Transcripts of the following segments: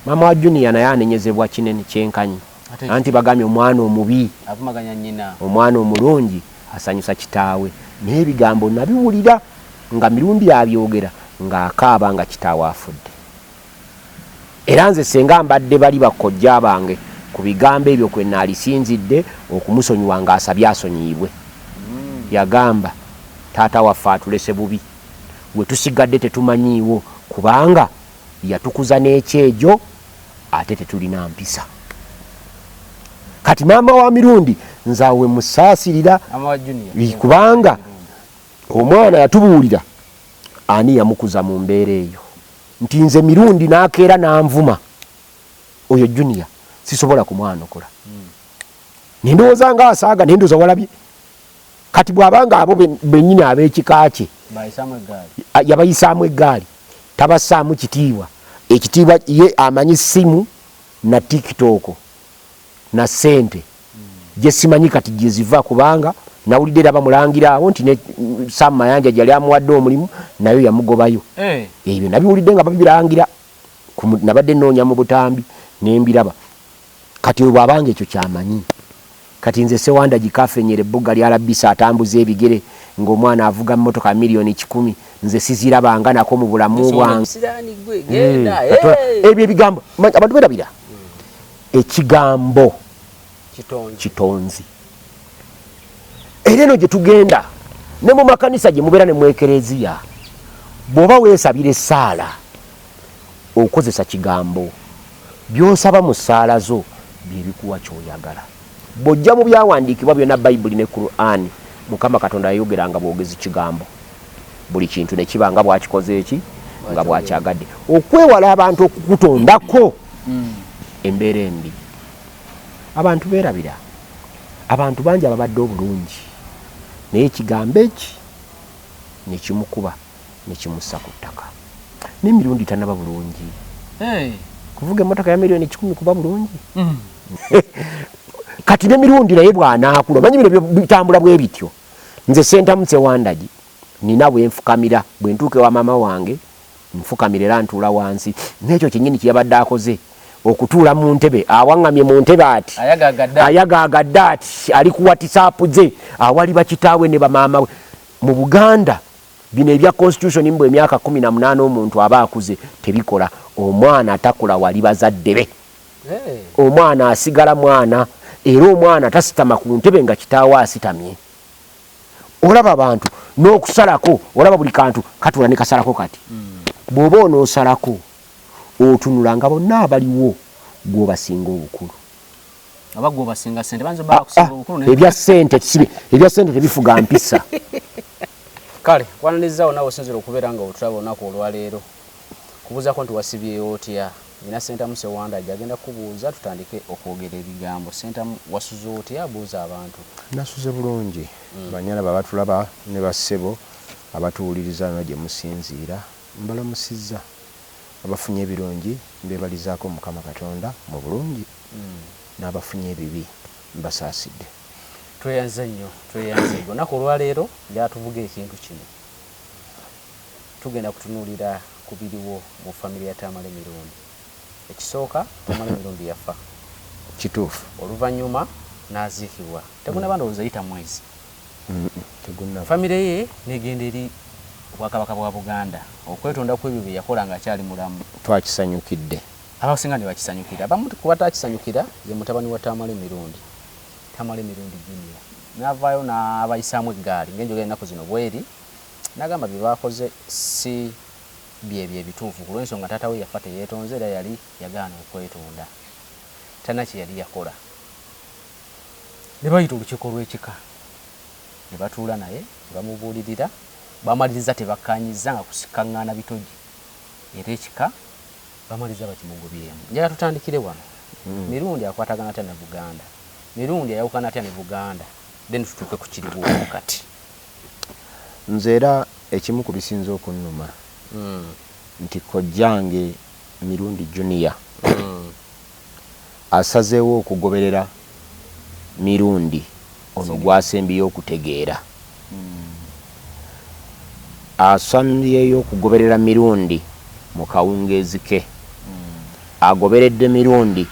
Maama wa junior naye anenyezebwa kinen kyenkanyi anti bagambye omwana omubi omwana omulungi asanyusa kitaawe naye ebigambo nabiwulira nga mirundi abyogera nga akaaba nga kitaawe afudde era nze senga mbadde bali bakkojja bange ku bigambo ebyo kwe naalisinzidde okumusonyiwa nga asabye asonyiyibwe mm. yagamba taata waffe atulese bubi gwe tusigadde tetumanyiiwo kubanga yatukuza n'ekyejo ate tetulina mpisa kati maama wa mirundi nzawe musaasirira kubanga omwana yatubuulira ani yamukuza mu mbeera eyo nti nze mirundi nakeera nanvuma oyo junia sisobola kumwanukula hmm. nendowooza nga asaaga nendoza walabye kati bw'aba ng'abo bennyini ab'ekika kye yabayisaamu eggaali tabassaamu kitiibwa ekitiibwa ye amanyi ssimu na tikitooko na ssente gye simanyi kati gye ziva kubanga nawulidde era bamulangira awo nti ne sam mayanja gyeyali amuwadde omulimu nayo yamugobayo eh. ebyo nabiwulidde nga babirangira nabadde nnoonya mu butambi ne mbiraba Kati oyo bwaba nga ekyo kyamanyi kati nze sewandagi kafenyera ebbugga lya labisa atambuza ebigere nga omwana avuga motoka ya million kikumi nze siziraba nga nako mu bulamu bwange hmm. ebyo ebigambo abantu berabira hmm. ekigambo kitonzi era eno gyetugenda ne mu makanisa gye mubeera ne mwekereziya bwoba wesabira esaala okozesa Kigambo. By'osaba mu ssaala zo bye bikuwa ky'oyagala. Bw'ojja mu Byawandiikibwa byonna, Bayibuli ne Kuraani, Mukama Katonda yayogeranga bwogezi Kigambo, buli kintu ne kiba nga bw'Akikoze ki? Nga bw'Akyagadde. Okwewala abantu okukutondako hmm. embeera embi. Abantu beerabira. Abantu bangi ababadde obulungi, naye Ekigambo eki ne kimukuba. ne kimussa ku ttaka n'emirundi tanaba bulungi kuvuga emmotoka ya miliyoni kikumi kuba bulungi mm. kati n'emirundi naye bw'anaakula omanyi bino bitambula bwe bityo nze sentamu sewandagi nina bwe nfukamira bwe ntuuka ewa maama wange nfukamira era ntuula wansi n'ekyo kyennyini kye yabadde akoze okutuula mu ntebe awaŋŋamye mu ntebe ati ayagaagadde ati ali ku watisaapu ze awali bakitaawe ne bamaama we mu buganda Bino ebya constitution mbu emyaka kumi na munana omuntu aba akuze tebikola omwana takula wali bazadde be omwana asigala mwana era omwana tasitama ku ntebe nga kitaawe asitamye olaba bantu n'okusalako olaba buli kantu katula ne kasalako kati bw'oba onoosalako otunula nga bonna abaliwo gwobasinga obukulu. oba gwe obasinga sente banza oba ah, bakusinga ah, obukulu naye ebya sente kisibe ebya sente tebifuga mpisa kale kwananiza ona osinzira okubera nga otulaba onako olwaleero kubuzako nti wasibyeyo otya ina senta muse wanda jagenda kubuuza tutandike okwogera ebigambo senta wasuze otya buuza abantu nasuze bulungi mm. banyala babatulaba ne basebo abatuwuliriza no gye musinziira mbalamusizza Abafunye ebirungi mbebalizaako Mukama Katonda mu bulungi, n'abafunye ebibi mbasaasidde. Tweyanze nnyo tweyanze nnyo olunaku olwaleero njagala tuvuge ekintu kino tugenda kutunuulira ku biriwo mu family ya Tamale Mirundi ekisooka Tamale Mirundi yafa kituufu oluvannyuma n'aziikibwa tegunaba ndowooza yita mwezi Famire ye n'egenda eri Obwakabaka bwa Buganda okwetonda ku ebyo bye yakola ng'akyali mulamu. Twakisanyukidde. Abasinga ne bakisanyukira. Abamu ku bataakisanyukira ye mutabani wa Tamale Mirundi, Tamale Mirundi Junior n'avaayo n'abayisaamu eggaali ng'enjogera ennaku zino bw'eri n'agamba bye baakoze si bye bye bituufu ku lw'ensonga taata we yafa teyeetonze era yali yagaana okwetonda. Talina kye yali yakola. ne bayita olukiiko lw'ekika ne batuula naye ne bamubuulirira. Baamalirizza tebakkaanyizza nga kusikkaŋŋaana bitogi era ekika baamalirizza bakimugobyemu. Njagala tutandikire wano, Mirundi akwatagana atya ne Buganda? Mirundi ayawukana atya ne Buganda? Then tutuuke ku kiriwo kati. Nze era ekimu ku bisinze okunnuma nti kojjange Mirundi Junior asazeewo okugoberera Mirundi ono gwasembyeyo okutegeera asmbyeyo okugoberera Mirundi mu kawungeezi ke agoberedde Mirundi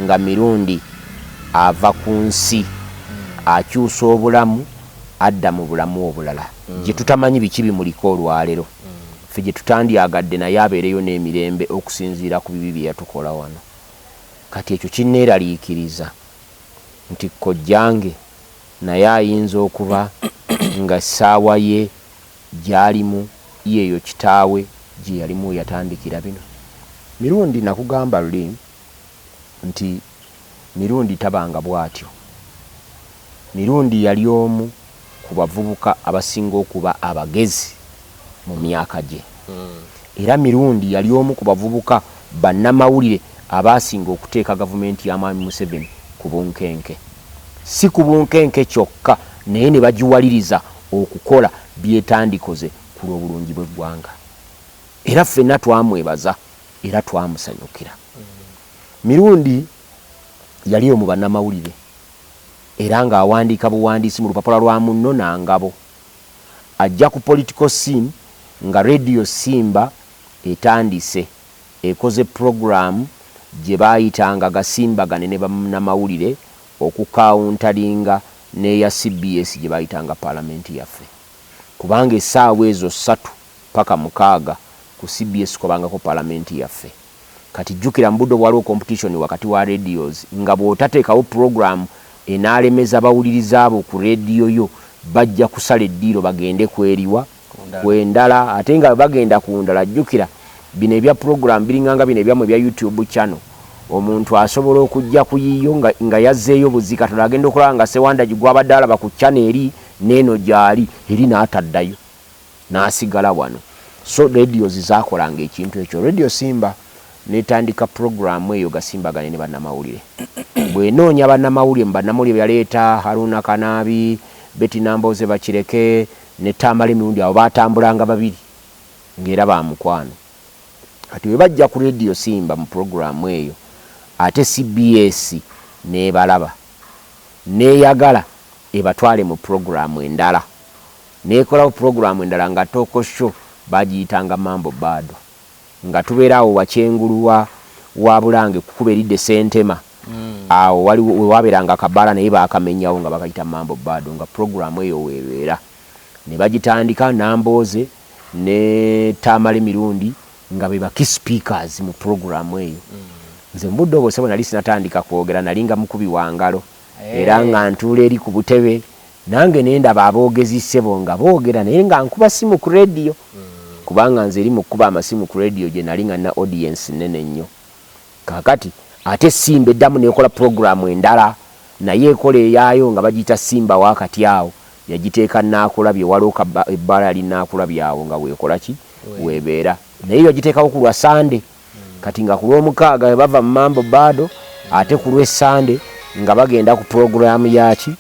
nga Mirundi ava ku nsi akyusa obulamu adda mu bulamu obulala gye tutamanyi biki bimuliko olwalero. Ffe gye tutandyagadde naye abeereyo n'emirembe okusinziira ku bibi bye yatukola wano. Kati ekyo kinneeraliikiriza nti kkojjange naye ayinza okuba nga essaawa ye gy'alimu y'eyo kitaawe gye yalimu we yatandikira bino. Mirundi nakugamba luli nti Mirundi tabanga bw'atyo. Mirundi yali omu ku bavubuka abasinga okuba abagezi mu myaka gye. Era Mirundi yali omu ku bavubuka bannamawulire abaasinga okuteeka gavumenti ya Mwami Museveni ku bunkenke. Si ku bunkenke kyokka naye ne bagiwaliriza okukola by'etandikoze ku lw'obulungi bw'eggwanga. Era ffenna twamwebaza era twamusanyukira. Mirundi yali omu bannamawulire era ng'awandiika buwandiisi mu lupapula lwa Munno na Ngabo. Ajja ku political scene nga Radio Simba etandise ekoze program gye baayitanga Gasimbagane ne bannamawulire okukaawuntalinga n'eya cbs gye baayitanga Palamenti Yaffe kubanga essaawa ezo ssatu paka mukaaga ku cbs kwabangako Palamenti Yaffe. Kati jukira mubudde obwaliwo competition wakati wa radios nga bwotatekawo program enalemeza bawuliriza bo ku radio yo bajja kusala eddiiro bagende kweriwa? Kwendala ate nga bwebagenda kundala jukira bino ebya program biringanga bino ebyamwe ebya YouTube channel omuntu asobola okujja kuyiyo nga nga yazeeyo buzi katono agenda okulaba nga Ssewandagi gwabadde alaba ku channel eri neeno gyali eri nataddayo. nasigala wano so radios zakolanga ekintu ekyo radio simba netandika program eyo gasimbagane ne banamawulire bwenoonya banamawulire mu banamawulire beyaleeta Haruna Kanaabi, Betty Nambooze Bakireke ne Tamale Mirundi abo batambulanga babiri nga era ba mukwano kati bwebajja ku radio simba mu program eyo ate cbs nebalaba neyagala ebatwale mu program endala Nekolawo program endala nga Toko show bagiyitanga Mambo Bado nga tubeera awo wakyengulu wa wa Bulange kukubo eridda e Sentema awo waliwo wewaberanga akabaala naye bakamenyawo nga bakayita Mambo Bado nga program eyo webeera nebagitandika Nambooze ne Tamale Mirundi nga be ba key speakers mu program eyo nze mubudde obwo sebo nali sinatandika kwogera nali nga mukubi wangalo era nga ntuula eri ku butebe nange ne ndaba aboogezi ssebo nga boogera naye nga nkuba ssimu ku leediyo kubanga nze eri mu kukuba amasimu ku leediyo gye nali nga nina odiyensi nnene nnyo. Kaakati ate Simba eddamu n'ekola pulogulaamu endala nayo ekola eyaayo nga bagiyita Simba wa kati awo yagiteeka Nnaakulabye waliwo ka bba ebbala li Nnaakulabye awo nga weekola ki? Weebeera naye yagiteekawo ku lwa Ssande. kati nga ku lwomukaaga webava mu mambo bado ate ku lwe sande nga bagenda ku program yaki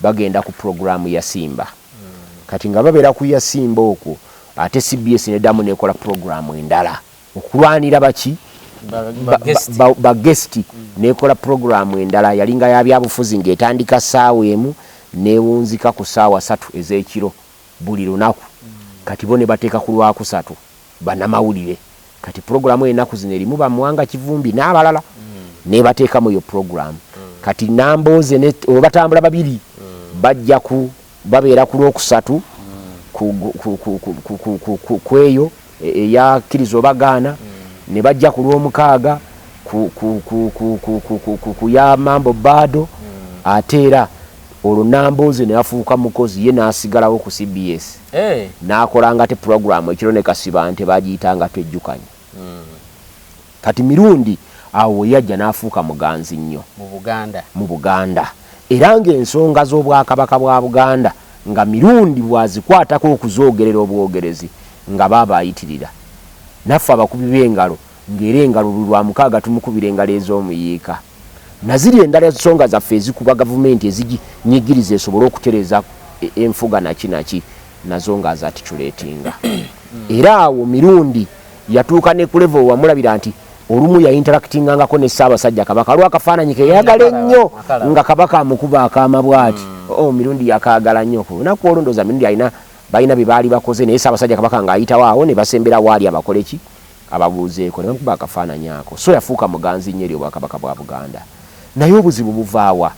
bagenda ku program ya simba kati nga babera ku ya simba okwo ate cbs nedamu nekola program endala okulwanira baki ba guest nekola program endala yalinga ya byabufuzi nga etandika saawa emu newunzika ku saawa satu ezekiro buli lunaku kati bo nebateka ku lwakusatu banamawulire kati program enaku zino erimu ba mwanga kivumbi nabalala nebateka mu yo program kati namboze ne obatambula babiri bajja ku babera ku lwokusatu kweyo eya kiriza obagaana ne bajja ku lwomukaaga ku ya mambo bado ate era olwo namboze nafuuka mukozi ye nasigalawo ku cbs eh. nakolanga ate puroguramu ekiro ne kasibante bagiyitanga twejjukanye hmm. kati mirundi awo weyajja n'afuuka muganzi nnyo mu buganda era ng'ensonga z'obwakabaka bwa buganda nga mirundi bwazikwatako okuzoogerera obwogerezi nga baaba ayitirira naffe abakubi b'engalo ng'era engalo buli Lwamukaaga tumukubira engalo ez'omuyiika na ziri endala ensonga zaffe ezikuba Gavumenti eziginyigiriza esobole okutereeza enfuga naki naki nazo ng'azaticulatinga era awo Mirundi yatuuka ne ku level we wamulabira nti olumu yayinteractingangako ne Ssaabasajja Kabaka waliwo akafaananyi ke yayagala ennyo nga Kabaka amukuba akaama bw'ati oh Mirundi yakaagala nnyo ku lunaku olwo ndowooza Mirundi alina balina bye baali bakoze naye Ssaabasajja Kabaka ng'ayitawo awo ne basembera waali abakole ki abaguuzeeko ne bamukuba akafaananyi ako so yafuuka muganzi nnyo eri Obwakabaka bwa Buganda. Naye obuzibu buva wa?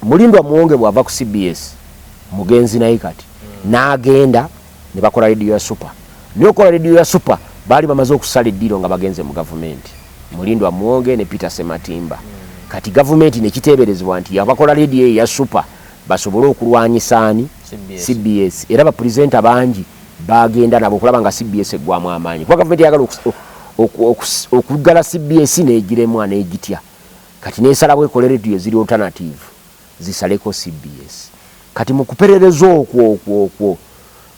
Mulindwa Muwonge bw'ava ku cbs, mugenzi naye kati, n'agenda ne bakola leediyo ya Super. Naye okukola leediyo ya Super baali bamaze okusala eddiiro nga bagenze mu Gavumenti, Mulindwa Muwonge ne Peter Ssematimba. Kati Gavumenti ne kiteeberezebwa nti yabakola leediyo eyo eya Super basobole okulwanyisa ani? Cbs. Era bapulizeenta bangi. baagenda nabo okulaba nga cbs eggwamu amaanyi kuba gavumenti eyagala okuggala cbs n'egiremwa n'egitya kati n'esalawo ekole rediyo eziri alternative zisaleko cbs kati mu kuperereza okwo okwo okwo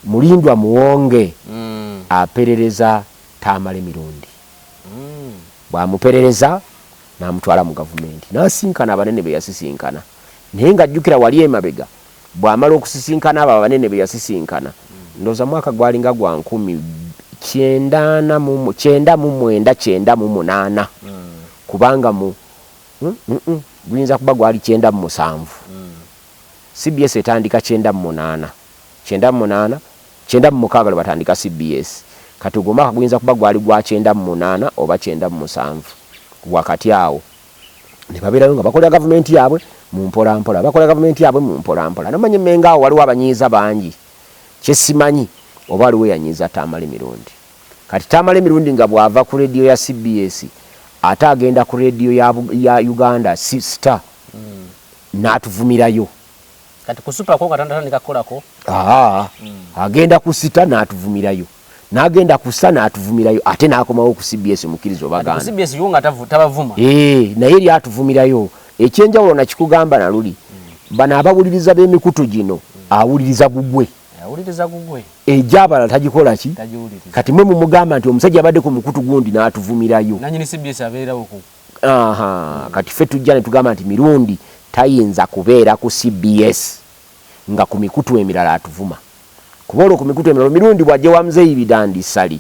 mulindwa muwonge mm. aperereza tamale mirundi mm. bwamuperereza namutwala mu gavumenti nasinkana abanene beyasisinkana naye nga jjukira wali emabega Bw'amala okusisinkana abo abanene be yasisinkana, ndowooza mwaka gwalinga gwa nkumi kyenda ana mu, kyenda mu mwenda, kyenda mu munaana, kubanga mu, mm-mm, guyinza kuba gwali kyenda mu musanvu. CBS etandika kyenda mu munaana, kyenda mu munaana, kyenda mu mukaaga lwe batandika CBS. Kati ogwo omwaka guyinza kuba gwali gwa kyenda mu munaana oba kyenda mu musanvu, wakati awo. ne babeerayo nga bakolera gavumenti yaabwe mu mpolampola bakolera gavumenti yaabwe mu mpolampola namanyi menga awo waliwo abanyiiza bangi kyesimanyi oba waliwo eyanyiiza taamala emirundi kati taamala emirundi nga bw'ava ku rediyo ya cbs ate agenda ku rediyo ya, ya uganda star mm. n'atuvumirayo kati ku supako nga tanatandika kukolako mm. agenda ku sita n'atuvumirayo nagenda kusa natuvumirayo ate nakomawo ku cbs mukiriza obagandabavuma eh, naye eri atuvumirayo ekyenjawulo nakikugamba naluli hmm. bano abawuliriza bemikutu gino hmm. awuliriza gugwe egyabalala eh, tagikolaki kati mwe mumugamba nti omusajja abadde ku mukutu gundi natuvumirayo kati fe tujja netugamba nti mirundi tayinza kubeera ku cbs nga ku mikutu emirala atuvuma kuba olwo ku mikutu emirala omirundi bw'ajja ewa Mzeei Bidandi Ssali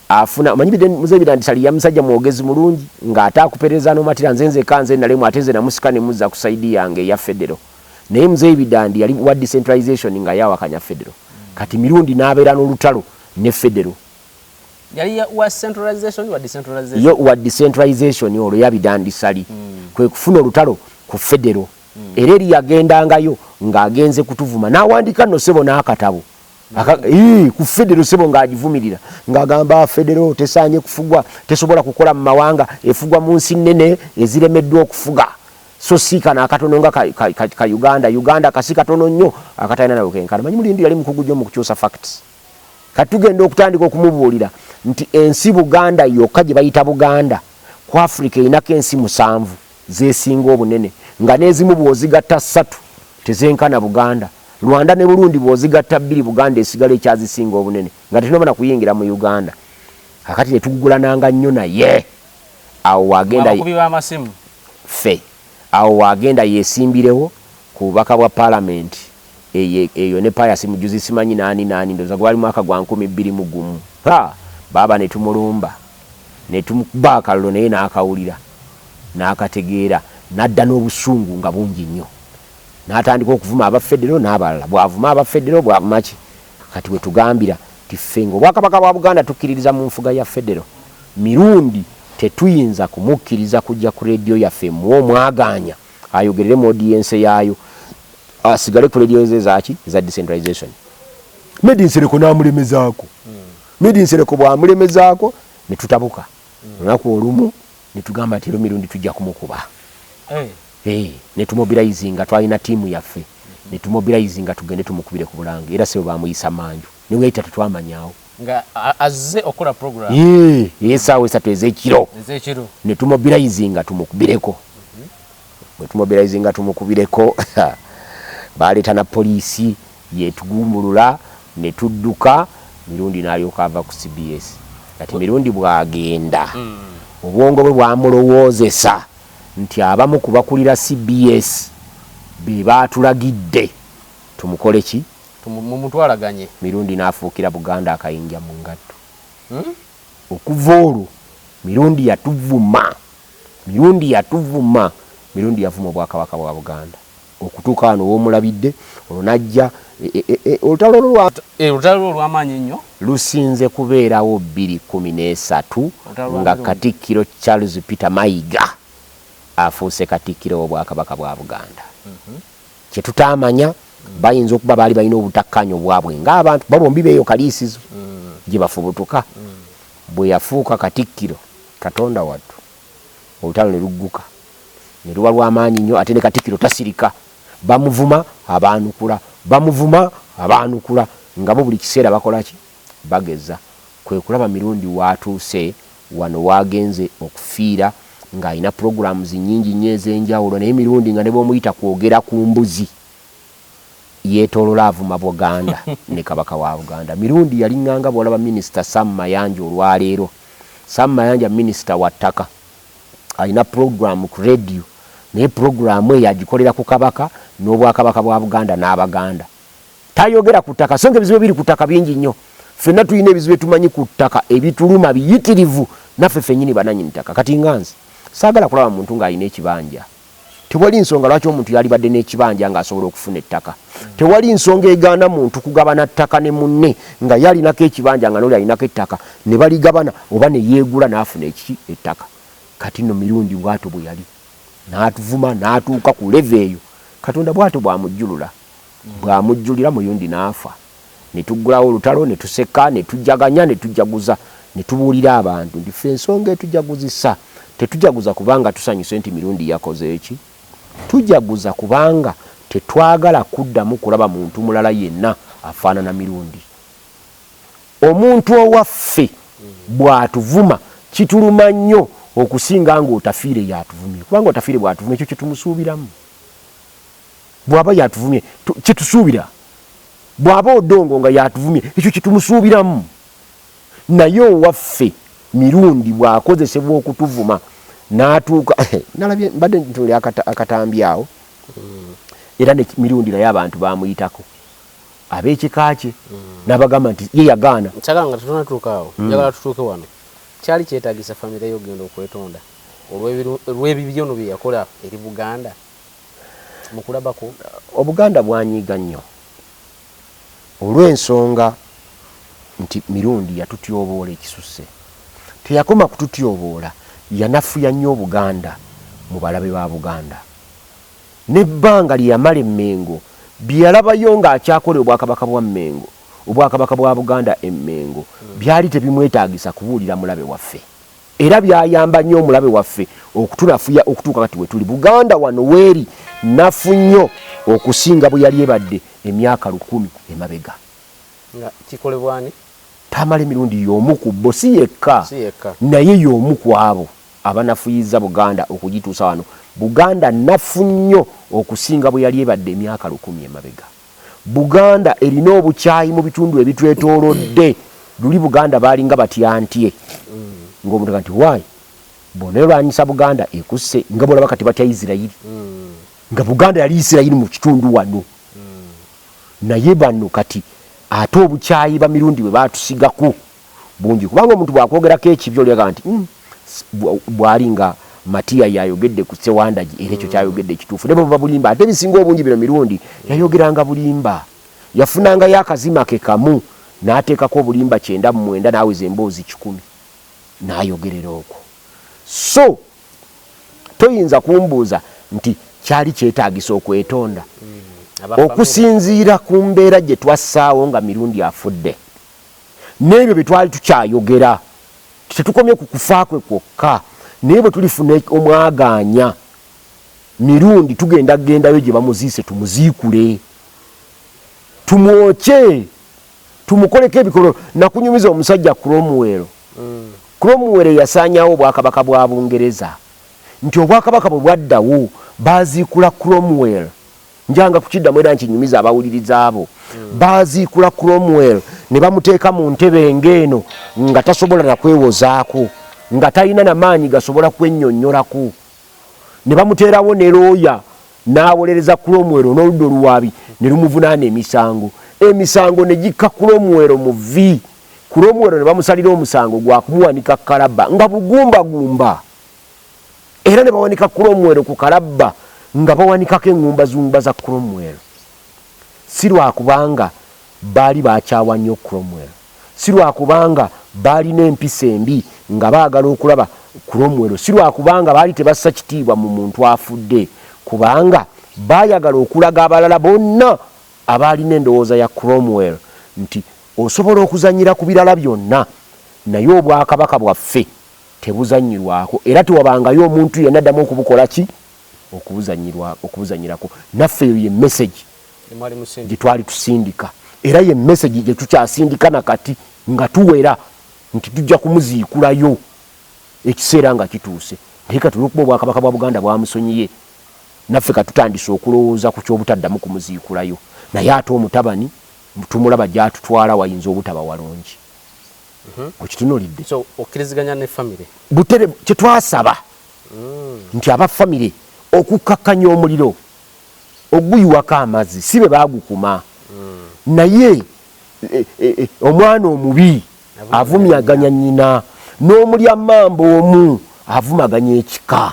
afuna omanyi Biden- Mzeei Bidandi Ssali ya musajja mwogezi mulungi ng'ate akuperereza n'omatira nze nzekka nze nalemu ate nze namusika ne muzza ku sayidi yange eya federo naye Mzeei Bidandi yali wa decentralization nga yawakanya federo kati Mirundi n'abeera n'olutalo ne federo yali ya- wa centralization wa decentralization yo wa decentralization olwo ya Bidandi Ssali kwe kufuna olutalo ku federo era eri yagendangayo ng'agenze kutuvuma n'awandiika nno ssebo n'akatabo ku federo ssebo ng'agivumirira ng'agamba federo tesaanye kufugwa tesobola kukola mu mawanga efugwa mu nsi nnene eziremeddwa okufuga so si kano akatono nga ka uganda uganda kasi katono nnyo akatalina nawe kenkana manyi mulindi yali mukugu gyo mu kukyusa facts kati tugenda okutandika okumubuulira nti ensi buganda yokka gye bayita buganda ku afirika erinako ensi musanvu zesinga obunene nga n'ezimu bw'ozigatta ssatu tezenkana Buganda. Rwanda ne Burundi bw'ozigatta bbiri Buganda esigala ekyazisinga obunene nga tetunaba na kuyingira mu Uganda. Kaakati ne tugugulananga nnyo naye awo w'agenda ye, ffe, awo w'agenda yeesimbirewo ku bubaka bwa Palamenti. Eye eyo ne pius mujuzi simanyi nani nani ndoza gwali mwaka gwa nkumi bbiri mu gumu haa baaba netumulumba netumukba akallo naye nakawulira nakategeera nadda nobusungu nga bungi nnyo natandika okuvuma aba federo nabalala bwavuma aba federo bwavumaki kati wetugambira nti ffe nga obwakabaka bwa buganda tukiririza mu nfuga ya federo mirundi tetuyinza kumukiriza kujja ku radio yaffe emuwa omwagaanya ayogerere mu audience yaayo asigale ku radio ze zaaki eza decentralization medi nsereko n'amulemezaako medi nsereko bw'amulemezaako ne tutabuka olunaku olumu ne tugamba nti ero mirundi tujja kumukuba eh. Eh, ne tumobilize nga twalina tiimu yaffe ne tumobilize nga tugende tumukubire ku bulange era sebo baamuyisa manju ne weyita tetwamanyawo nga azze okukola program yee ye sawa esatu ezekiro ezekiro ne tumobilizing tumukubireko mhm. bwe tumobilizing tumukubireko baaleta na poliisi yetugumbulula ne tudduka mirundi n'alyoka ava ku cbs kati mirundi bwagenda hmm. obwongo bwe bwamulowoozesa nti abamu ku bakulira cbs be baatulagidde tumukole ki Mumutwalaganye. Mirundi n'afuukira Buganda akayinja mu ngatto. Okuva olwo Mirundi yatuvuma, Mirundi yatuvuma, Mirundi yavuma Obwakabaka bwa Buganda okutuuka wano w'omulabidde, olwo n'ajja e, e, e, olutalo olwo lwa. E, olutalo olwo olw'amaanyi ennyo. Lusinze kubeerawo bbiri kkumi n'esatu nga Katikkiro Charles Peter Mayiga afuuse Katikkiro w'Obwakabaka bwa Buganda. Kye tutaamanya, bayinza okuba baali balina obutakkaanya obwabwe ng'abantu. Bo bombi b'eyo Kaliisizo gye bafubutuka. Bwe yafuuka Katikkiro, Katonda wattu, olutalo ne lugguka ne luba lwa maanyi nnyo ate ne Katikkiro tasirika. Bamuvuma, abaanukula, bamuvuma, abaanukula nga bo buli kiseera bakola ki? bageza kwe kulaba Mirundi w'atuuse wano w'agenze okufiira ng'alina pulogulaamuzi nnyingi nnyo ez'enjawulo naye Mirundi nga ne bw'omuyita kwogera ku mbuzi yeetoolola avuma Buganda ne Kabaka wa Buganda. Mirundi yaling'anga bw'olaba minisita Sam Mayanja olwaleero. Sam Mayanja minisita wa ttaka alina pulogulaamu ku leediyo naye pulogulaamu eyo agikolera ku Kabaka n'Obwakabaka bwa Buganda n'Abaganda. tayogera ku ttaka songa ebizibu ebiri ku ttaka bingi nnyo fenna tulina ebizibu etumanyi ku ttaka ebituluma biyitirivu naffe fenyini bananyini ttaka kati nga nze saagala kulaba muntu ng'alina ekibanja tewali nsonga lwaki omuntu yalibadde n'ekibanja ng'asobola okufuna ettaka tewali nsonga egaana muntu kugabana ttaka ne munne nga ye alinako ekibanja nga noli alinako ettaka ne baligabana oba ne yeegula n'afuna ekiki ettaka kati no mirundi bwato bwe yali n'atuvuma n'atuuka ku leve eyo katonda bwato bwamujjulula bw'amujjulira Muyundi n'afa ne tuggulawo olutalo ne tuseka ne tujaganya ne tujaguza ne tubuulira abantu nti ffe ensonga etujaguzisa tetujaguza kubanga tusanyuse nti Mirundi yakoze ki? Tujaguza kubanga tetwagala kuddamu kulaba muntu mulala yenna afaanana Mirundi. Omuntu owaffe bw'atuvuma kituluma nnyo okusinga ng'Otafiire y'atuvumye kubanga Otafiire bw'atuvuma ekyo kye tumusuubiramu. bwaba yatuvumye kyetusuubira bwaba odongo nga yatuvumye ekyo kyetumusuubiramu naye owaffe mirundi bwakozesebwa okutuvuma natuuka nalabye mbadde ntuli akatambi awo mm. era ne mirundi naye abantu bamuyitako abekika kye mm. nabagamba nti ye yagaana kyagala nga tetunatuuka awo mm. njagala tutuuke wano kyali kyetagisa famire yo ogenda okwetonda olw'ebibyono bye yakola eri buganda mu kulaba kwo? Obuganda bwanyiiga nnyo olw'ensonga nti Mirundi yatutyoboola ekisusse. Teyakoma kututyoboola, yanafuya nnyo Obuganda mu balabe ba Buganda. N'ebbanga lye yamala e Mmengo, bye yalabayo ng'akyakola e Obwakabaka bwa Mmengo, Obwakabaka bwa Buganda e Mmengo, byali tebimwetaagisa kubuulira mulabe waffe. Era byayamba nnyo omulabe waffe okutunafuya okutuuka kati we tuli. Buganda wano w'eri nnafu nnyo okusinga bwe yali ebadde emyaka lukumi emabega. Nga kikolebwa ani? Tamale Mirundi y'omu ku bo, si yekka, naye y'omu ku abo abanafuyizza Buganda okugituusa wano. Buganda nnafu nnyo okusinga bwe yali ebadde emyaka lukumi emabega. Buganda erina obukyayi mu bitundu ebitwetoolodde. Luli Buganda baalinga batya ntye nga omuntu nti why bwona elwanyisa Buganda ekusse nga bwolaba kati batya Isirairi nga Buganda yali Isirairi mu kitundu wano naye bano kati ate obukyayi Bamirundi bwe baatusigako. bungi kubanga omuntu bwakwogerako ekibi olyaga nti hmm, bwali nga matiya yayogedde ku sewandagi era ekyo kyayogedde ekituufu ne bwebuba bulimba ate ebisinga obungi bino mirundi yayogeranga bulimba yafunangayo akazima ke kamu n'ateekako obulimba kyenda mu mwenda n'aweza emboozi kikumi n'ayogerera okwo so toyinza kumbuuza nti kyali kyetaagisa okwetonda hmm, okusinziira ku mbeera gye twassaawo nga mirundi afudde n'ebyo bye twali tukyayogera, tetukomye ku kufa kwe kwokka, naye bwe tulifuna omwagaanya mirundi tugenda kugendayo gye bamuziise tumuziikule, tumwokye, tumukoleko ebikololo. Nakunyumiza omusajja Cromwell, mm. Cromwell eyasaanyawo obwakabaka bwa Bungereza, nti obwakabaka bwe bwaddawo baaziikula Cromwell. Njanga kukiddamu era nkinyumiza abawuliriza abo baaziikula Cromwell ne bamuteeka mu ntebe ng'eno nga tasobola na kwewozaako, nga talina na maanyi gasobola kwennyonnyolako, ne bamuteerawo ne looya n'awolereza Cromwell n'oludda oluwaabi ne lumuvunaana emisango. Emisango ne gikka Cromwell mu vvi, Cromwell ne bamusalira omusango gwa kumuwanika kalabba nga bugumbagumba. era ne bawanika Cromwell ku kalabba nga bawanikako eŋŋumbazumba za Cromwell, si lwa kubanga baali bakyawa nnyo Cromwell, si lwa kubanga baalina empisa embi nga baagala okulaba Cromwell, si lwa kubanga baali tebassa kitiibwa mu muntu afudde, kubanga baayagala okulaga abalala bonna abaalina endowooza ya Cromwell nti, Osobola okuzannyira ku birala byonna, naye Obwakabaka bwaffe Tebuzannyirwako era tewabangayo omuntu yenna addamu okubukola ki? Okubuzannyirwa, okubuzannyirako. Naffe eyo ye message gye twali tusindika era ye message gye tukyasindika na kati nga tuwera nti tujja kumuziikulayo ekiseera nga kituuse. Naye kati olw'okuba Obwakabaka bwa Buganda bwamusonyiye, naffe ka tutandise okulowooza ku ky'obutaddamu kumuziikulayo. Naye ate omutabani tumulaba gy'atutwala wayinza obutaba walungi. mhm. okitunulidde so okkiriziganya ne famire butere kyetwasaba mm. nti aba famire okukakkanya omuliro oguyiwako amazzi si be bagukuma mm. naye e, e, e, omwana omubi avumyaganya nyina n'omulya mamba omu avumaganya ekika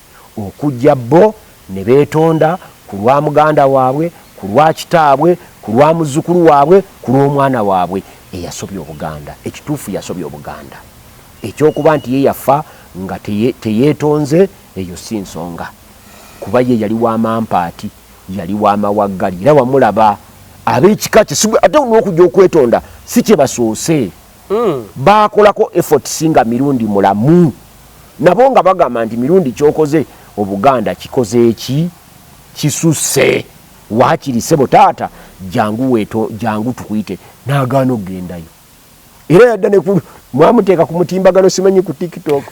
okujja bo ne beetonda ku lwa muganda waabwe, ku lwa kitaabwe, ku lwa muzzukulu waabwe, ku lw'omwana waabwe eyasobya Obuganda. Ekituufu yasobya Obuganda. Eky'okuba nti ye yafa nga teyeetonze, eyo si nsonga kuba ye yali wa mampaati, yali wa mawaggali era wamulaba ab'ekika kye si ate n'okujja okwetonda si kye basoose, baakolako efforts nga Mirundi mulamu. nabo nga bagamba nti mirundi kyokoze obuganda kikoze eki kisuse wakiri sebo taata jangu weto jangu tukuyite nagaana okugendayo era yadda nekulu mwamuteeka ku mutimbagano simanyi ku tiktok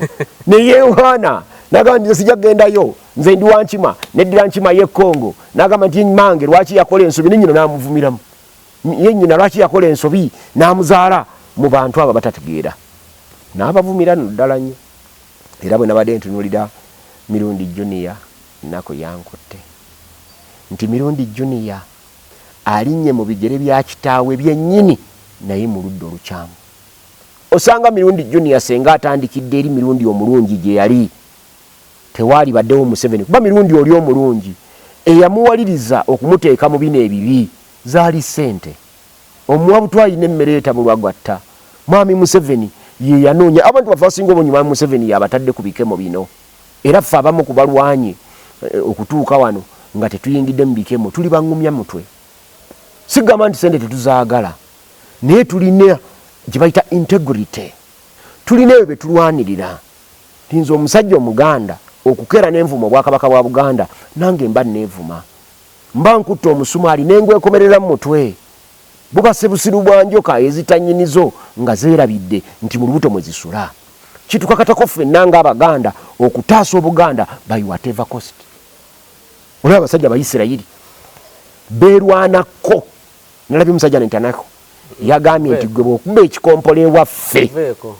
neyeyohana nagamba nti sija kugendayo nze ndi wankima neddira nkima ye congo nagamba nti mange lwaki yakola ensobi nenyino namuvumiramu ye nyina lwaki yakola ensobi n'amuzaala mu bantu abo batategeera n'abavumira no ddala nnyo era bwe nabadde ntunulira mirundi juniya ennaku yankutte nti mirundi juniya alinnye mu bigere bya kitaawe byennyini naye mu ludda olukyamu osanga mirundi juniya senga atandikidde eri mirundi omulungi gye yali tewaalibaddewo Museveni kuba Mirundi oli omulungi eyamuwaliriza okumuteeka mu bino ebibi zaali ssente. Omuwa butwaayi n'emmere etabulwa gw'atta. Mwami Museveni ye yanoonya abantu baffe abasinga obungi Mwami Museveni y'abatadde ku bikemo bino era ffe abamu ku balwanye okutuuka wano nga tetuyingidde mu bikemo tuli bangumya mutwe. Sigamba nti ssente tetuzaagala naye tulina gye bayita integrity, tulina ebyo bye tulwanirira. Nti nze omusajja omuganda okukeera ne nvuma obwakabaka bwa Buganda nange mba nneevuma. Mba nkutte omusumaali ne ngwekomerera mu mutwe. Buba sibusiru bwa njoka ezita nnyinizo nga zeerabidde nti mu lubuto mwe zisula. Kitukakatako ffenna ng'Abaganda okutaasa Obuganda by whatever cost. Olaba abasajja Abayisirayiri beerwanakko. Nalabye musajja nentanako yagambye nti gwe bwokuba ekikompola ewaffe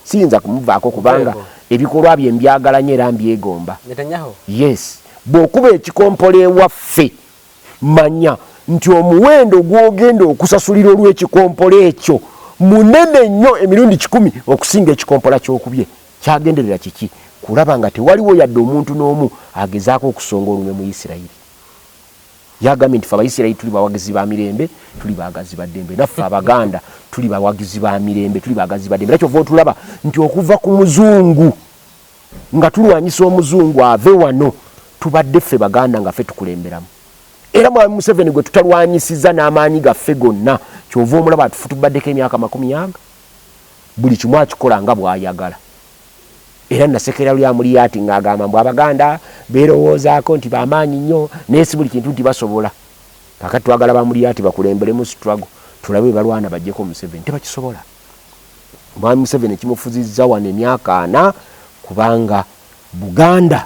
siyinza kumuvaako kubanga ebikolwa bye mbyagala nyo era mbyegomba. Yes, bwokuba ekikompola ewaffe manya nti omuwendo gwogenda okusasulira olwekikompola ekyo munene nyo emirundi kikumi okusinga ekikompola kyokubye. Kyagenderera kiki? Kulaba nga tewaliwo yadde omuntu n'omu agezaako okusonga olunwe mu Yisirayiri. Yagambye nti, Ffe Abayisirayiri tuli bawagizi ba mirembe, tuli baagazi ba ddembe. Naffe Abaganda tuli bawagizi ba mirembe, tuli baagazi ba ddembe. Era kyova otulaba nti okuva ku Muzungu, nga tulwanyisa Omuzungu ave wano, tubadde ffe Baganda nga ffe tukulemberamu. Era Mwami Museveni gwe tutalwanyisizza n'amaanyi gaffe gonna, kyova omulaba atufutubaddeko emyaka makumi aga. Buli kimu akikola nga bw'ayagala. Era nasekera luli amulya ati ngagamba mbu abaganda berowoozako nti bamaanyi nnyo naye sibuli kintu nti basobola. Kakati twagala ba mulyati bakulemberemu struggle tulabe bwebalwana bajjeko museveni. Tebakisobola. Mwami museveni ekimufuzizza wano emyaka ana kubanga buganda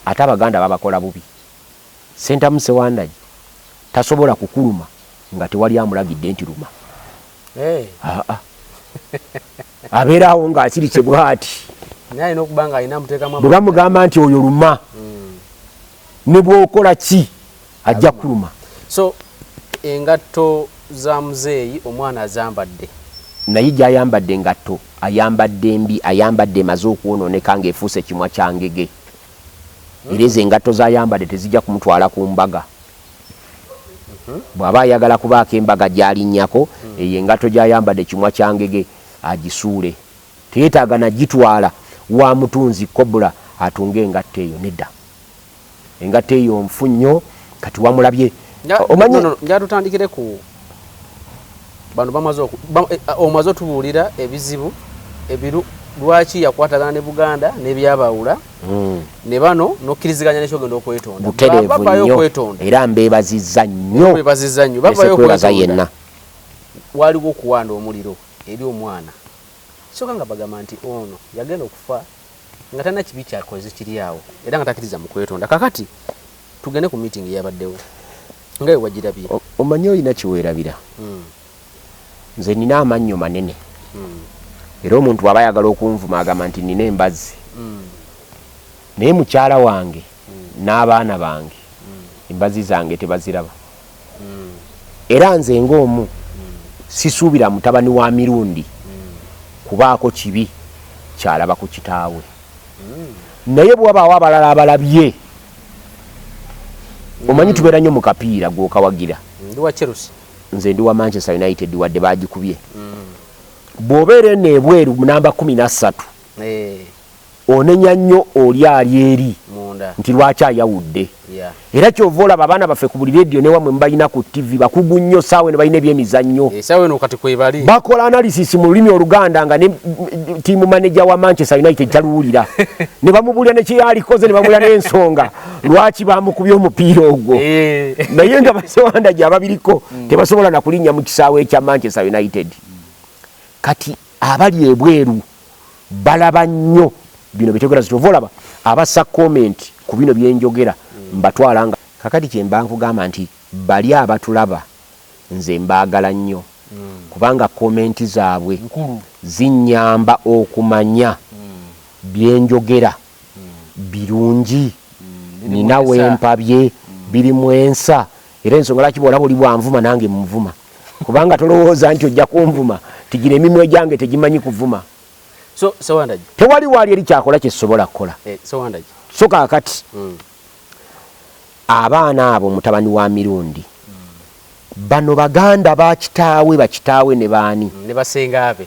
ate abaganda babakola bubi. Sentamu Sewandagi tasobola kukuluma nga tewali amulagidde nti luma. Hey. Haa. abeera awo nga akirikye bwati bwe bamugamba nti oyo luma hmm. ne bwokola ki ajja kuluma so engatto za muzeeyi omwana azambadde naye gyayambadde engatto ayambadde mbi ayambadde emaze okwonooneka ngaefuuse kimwa kyangege hmm. era ezo engatto zayambadde tezijja kumutwala ku mbaga Bw'aba ayagala kubaako embaga gy'alinnyako, eyo engatto gy'ayambadde kimwa kya ngege agisuule. Teyeetaaga na gitwala wa mutunzi kkobula atunge engatto eyo, nedda. Engatto eyo nfu nnyo. Kati wamulabye, omanyi. Njagala tutandikire ku. bano bamaze eh, ah, omaze otubuulira ebizibu ebiru lwaki yakwatagana ne buganda nebyabaawula hmm. ne bano nokkiriziganya nekyogenda okwetondababayo okwetonda era mbebaziza nnyo bebaziza nnyo babayo okwebaza yenna waliwo okuwanda omuliro eri omwana kyoka nga bagamba nti ono yagenda okufa nga talina kibi kyakoze kiri awo era nga takiriza mu kwetonda. Kakati tugende ku meeting eyabaddewo nga we wagirabye. Omanyi olina kiweerabira. Hmm. Nze nina amannyo manene hmm. era omuntu bw'aba ayagala okunvuma agamba nti nina embazzi hmm. naye mukyala wange n'abaana bange embazzi zange tebaziraba. era nze ng'omu sisuubira mutabani wa Mirundi kubaako kibi ky'alaba ku kitaawe naye bwe wabaawo abalala abalabye omanyi tubeera nnyo mu kapiira gw'okawagira nze ndi wa manchester united wadde baagikubye bw'obeera eno ebweru namba kumi na ssatu eh. onenya nnyo oli ali eri nti lwaki ayawudde era kyova olaba abaana baffe ku buli rediyo newamwe mubalina ku ttivi bakugu nnyo saawa eno balina ebyemizannyo eh, bakola analysis mu lulimi oluganda nga ne tiimu maneja wa manchester united taluwulira ne bamubuulira nekyeyalikoze ne bamuulira n'ensonga lwaki bamukubye omupiira ogwo eh. naye nga basewanda gyababiriko mm. tebasobola nakulinnya mu kisaawe ekya manchester united kati abali ebweru balaba nnyo bino byetegera zitova olaba abasa comment ku bino byenjogera mbatwala nga kakati kyemba nkugamba nti bali abatulaba nze mbagala nnyo kubanga comment zaabwe zinyamba okumanya byenjogera. birungi, nnina we mpabye, biri mu ensa era ensonga lwaki bw'olaba oli bw'anvuma nange mmuvuma kubanga tolowooza nti ojja kunvuma nti gino emimwa egyange tegimanyi kuvuma. Tewali waali eri kyakola kye sisobola kukola. Eh, so kaakati hmm. abaana abo mutabani wa Mirundi bano baganda bakitaawe bakitaawe ne baani ne basengaabe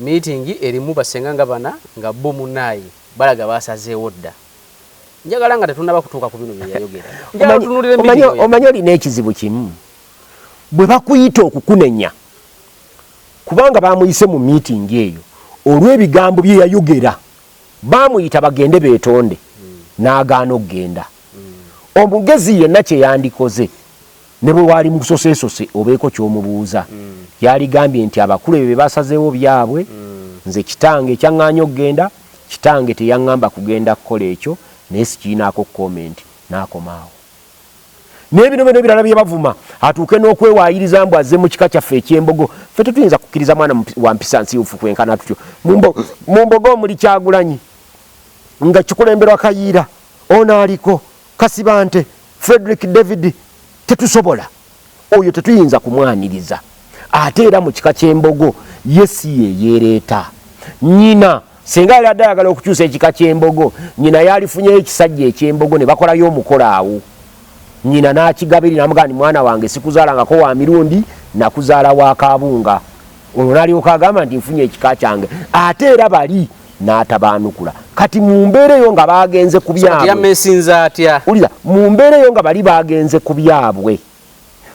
Meeting erimu bassenga nga bana nga bbo munaye balaga basazeewo dda. Njagala nga tetunaba kutuuka ku bino bye yayogera. Njagala tunulire meeting omanyi, oyo. omanyi olina ekizibu kimu bwe bakuyita okukunenya kubanga bamuyise mu meeting eyo olw'ebigambo bye yayogera baamuyita bagende beetonde n'agaana okugenda. Omugezi yenna kye yandikoze. Ne bwe waali musoseesose obeeko ky'omubuuza. Yaligambye nti abakulu ebyo bye basazeewo byabwe, nze kitange ekyaŋŋaanya okugenda, kitange teyaŋŋamba kugenda kukola ekyo naye sikirinaako kkomenti. N'akoma awo. N'ebinoba n'ebirala bye bavuma atuuke n'okwewaayiriza mbu azze mu kika kyaffe eky'Embogo. Ffe tetuyinza kukkiriza mwana wa mpisa nsiiwuufu kwenkana tutyo mu Mbogo omuli Kyagulanyi nga kikulemberwa Kayiira. Ono aliko! Kasibante Fredrick David tetusobola oyo tetuyinza kumwaniriza ate era mu kika ky'embogo ye si yeyeereeta nyina singa yali adde ayagala okukyusa ekika ky'embogo nyina yalifunyeyo ekisajja eky'embogo ne bakolayo omukolo awo nyina n'akigabiri namugaa ni mwana wange sikuzaalangako wa mirundi nakuzaala wa kaabunga olwo nalyoka agamba nti nfunye ekika kyange ate era bali n'atabaanukula kati mu mbeera eyo nga baagenze ku byabweyamesinza atya ulira mu mbeera eyo nga bali baagenze ku byabwe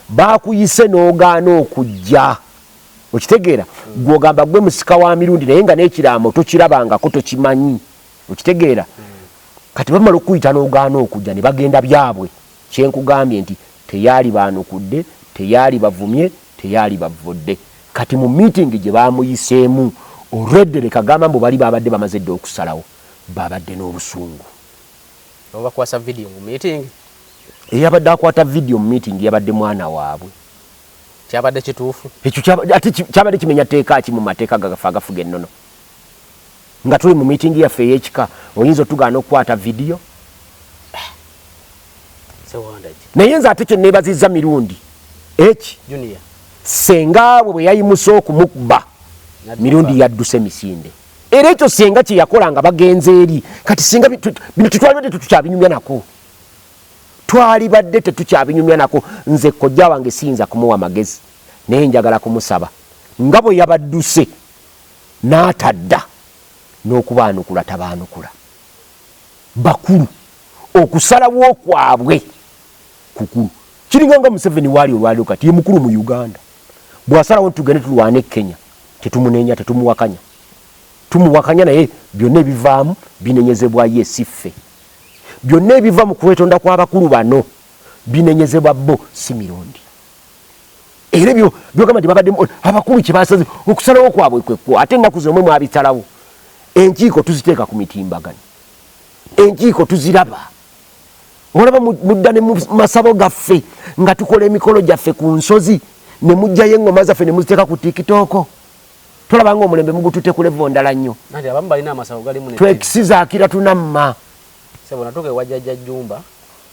baakuyise n'ogaana okujja okitegeera hmm. gwogamba gwe musika wa mirundi naye nga n'ekiraamo tokirabangako tokimanyi okitegeera hmm. kati bamala okukuyita n'ogaana okujja ne bagenda byabwe Kyenkugambye nti teyalibaanukudde, teyalibavumye, teyalibavvodde. Kati mu meeting gye baamuyiseemu already leka gamba mbu bali baabadde bamaze dda okusalawo, baabadde n'obusungu. Obakwasa video mu meeting? Eyabadde akwata video mu meeting yabadde mwana waabwe. Kyabadde kituufu? Ekyo kyaba, ate kyabadde kimenya tteeka ki mu mateeka gaffe agafuga ennono? Nga tuli mu meeting yaffe ey'ekika oyinza otugaana okukwata video? Naye nze ate kyenneebazizza Mirundi eki senga bwe bwe yayimuse okumukba Mirundi yadduse misinde era ekyo senga kye yakola nga bagenze eri kati senga bino tetwalibadde tetukyabinyumya nako twalibadde tetukyabinyumya nako nze kojja wange siyinza kumuwa magezi naye njagala kumusaba nga bwe yabadduse n'atadda n'okubaanukula tabaanukula bakulu okusalawo kwabwe kukulu kiringa nga museveni waali olwaliro kati ye mukulu mu uganda bwasalawo nti tugende tulwane e kenya tetumuneenya tetumuwakanya tumuwakanya naye byonna ebivaamu binenyezebwa ye siffe byonna ebiva mu kwetonda kw'abakulu bano binenyezebwa bo si mirundi era ebyo byogamba nti babadde abakulu kyebasaze okusalawo kwabwe kwekwo ate ennaku zomwe mwabisalawo enkiiko tuziteeka ku mitimbagano enkiiko tuziraba olaba mudda ne masabo gaffe nga tukola emikolo gyaffe ku nsozi ne mujjayo eŋŋoma zaffe ne muziteeka ku tikitooko tolabanga omulembe mugutute ku levo ndala nnyo twekisizaakira tunamma sebonatuka ewajajja jumba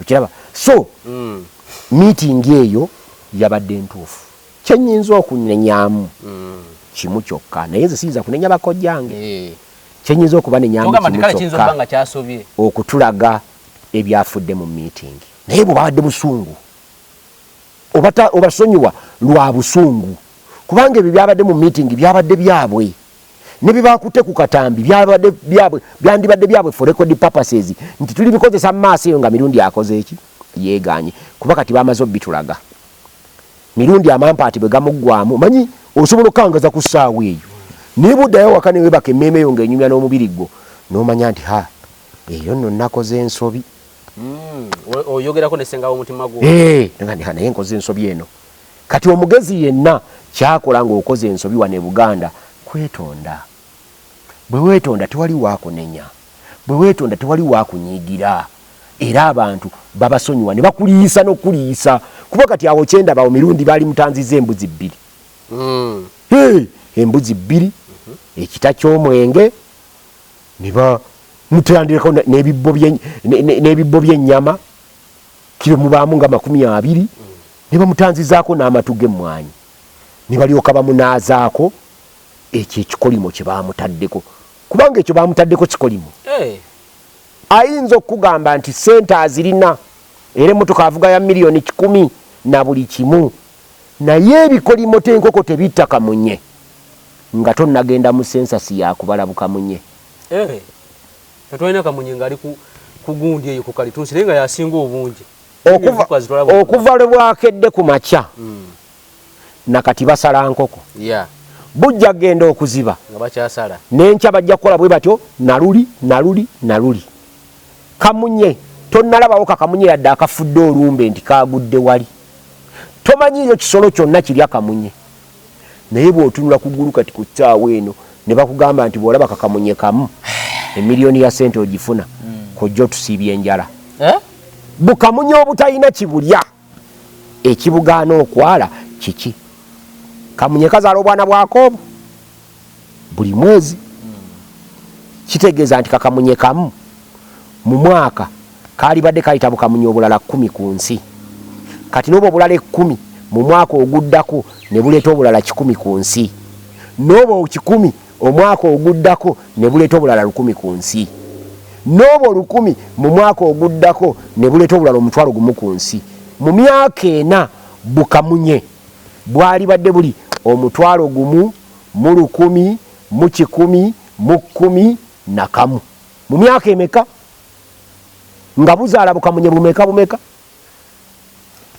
okiraba so mm. meeting eyo yabadde ntuufu kyenyinza okunenyamu mm. kimu kyokka naye nze siyinza kunenya bakojjange eh. kyenyinza okubanenyamu kimu kyokka okutulaga ebyafudde mu meeting naye bwe babadde busungu obasonyiwa lwa busungu kubanga ebyo byabadde mu meeting byabadde byabwe ne bye bakutte ku katambi byabadde byabwe byandibadde byabwe for record purposes nti tuli bikozesa mu maaso eyo nga mirundi akoze eki yeeganye kuba kati bamaze obitulaga mirundi amampaati bwe gamuggwamu manyi osobola okukangaza ku ssaawa eyo naye buddayo waka ne webaka emmeeme eyo nga enyumya n'omubiri gwo n'omanya nti ha eyo nno nnakoze ensobi hmm, oyogerako nesengawo omutima gwo eh, naye nkoze ensobi eno Kati omugezi yenna kyakola nga okoze ensobi wano e Buganda kwetonda. Bwewetonda tewali wakunenya, bwewetonda tewali wakunyiigira era abantu babasonyiwa nebakuliyisa nokukuliyisa kuba kati awo kyendaba awo Mirundi balimutanzizza embuzi bbiri. Hee embuzi bbiri, ekita kyomwenge nebamutandirako nebibbo bye nebibbo byenyama kiro mubaamu nga makumi abiri ne bamutanzizaako n'amatu g'emmwanyi ne balyoka bamunaazaako ekyo ekikolimo kye baamutaddeko kubanga ekyo baamutaddeko kikolimo eh. ayinza okukugamba nti ssente azirina era emmotoka avuga ya miliyoni kikumi na buli kimu naye ebikolimo tenkoko tebitta kamunye nga tonnagenda mu sensasi yakubala bukamunye eh. Tetwalina kamunye nga ali ku kugundi eyo ku kalitunsi naye nga yasinga obungi okuva lwe bwakedde ku makya hmm. nakati basala nkoko bujja kugenda okuziba nenkya bajja kukola bwe batyo naluli naluli naluli kamunye tonalabawo kakamunye yadde akafudde olumbe nti kagudde wali tomanyiiyo kisolo kyonna kirya kamunye naye bwotunula ku gulu kati ku ssaawa eno ne bakugamba nti bw'olaba kakamunye kamu emiliyoni ya sente ogifuna kojja otusiibya enjala eh? bukamunye obutalina kibulya ekibugaana okwala kiki kamunye kazaala obwana bwako obwo buli mwezi kitegeeza nti kakamunye kamu mu mwaka kaalibadde kayita bukamunye obulala kkumi ku nsi kati n'obwo obulala ekkumi mu mwaka oguddako ne buleeta obulala kikumi ku nsi n'obwo kikumi omwaka oguddako ne buleeta obulala lukumi ku nsi n'obwo lukumi mu mwaka oguddako ne buleeta obulala omutwalo gumu ku nsi mu myaka ena bukamunye bwalibadde buli omutwalo gumu mu lukumi mu kikumi mu kkumi na kamu mu myaka emeka nga buzaala bukamunye bumeka bumeka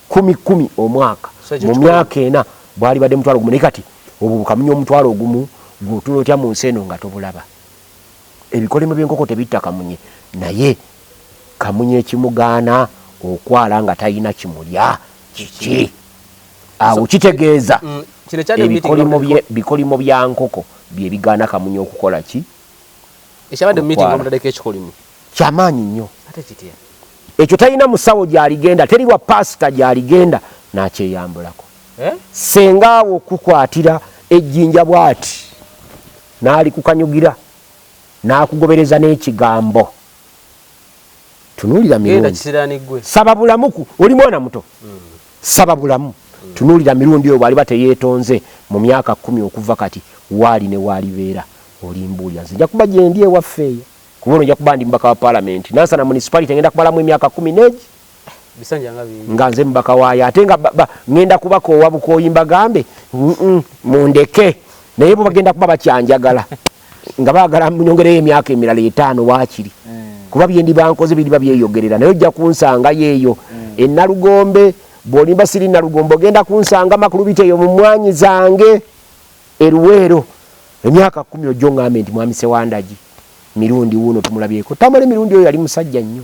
kumi kumi omwaka mu myaka ena bwalibadde mutwalo gumu naye kati obwo bukamunye omutwalo ogumu gwotula otya mu nsi eno nga tobulaba ebikolimo by'enkoko tebitta kamunye naye kamunye ekimugaana okwala nga talina kimulya kiki awo kitegeeza mm, ebikolimo bya nkoko bye bigaana kamunye okukola ki kyamaanyi nnyo ekyo talina musawo gyaligenda teri wa paasita gyaligenda nakyeyambulako eh? senga awo okukwatira ejjinja bwati n'alikukanyugira n'akugobereza n'ekigambo tunuulira mirundi saba bulamuku oli mwana muto mm. saba bulamu mm. tunuulira mirundi oyo bwaliba teyeetonze mu myaka kumi okuva kati waali ne waalibeera olimbuulira nze nja kuba gyendi ewaffe eyo kuba ono nja kuba ndi mubaka wa palamenti nansana munisipalite ngenda kumalamu emyaka kumi negi nga nze mubaka waayo ate nga ŋenda kubaka owa bukooyi mbagambe mundeke naye bwebagenda kuba bakyanjagala nga bagala nyongereyo emyaka emirala etaano waakiri mm. kuba byendi bankoze biriba byeyogerera naye ojja kunsanga yeeyo mm. enalugombe bwolimba siri nalugombe ogenda kunsanga makulubiteeyo mu mwanyi zange eruweero emyaka kumi ojjo ngambe nti mwami sewandagi mirundi wuuno tumulabyeko tamale mirundi oyo yali musajja nnyo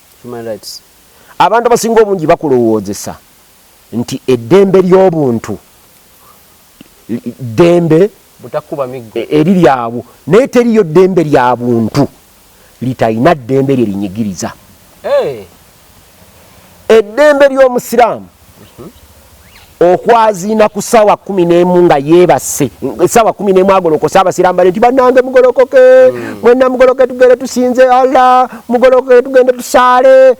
Human rights. Abantu abasinga obungi bakulowoozesa nti eddembe ly'obuntu ddembe e, eriri awo naye teriyo ddembe lya buntu litalina ddembe lye linyigiriza. Eddembe ly'Omusiraamu okwaziina ku saawa kumi nemu nga yeebase esaawa kumi nemu agolokose abasirambale nti banange mugolokoke hmm. mwena mugoloke tugende tusinze allah mugolokoke tugende tusaale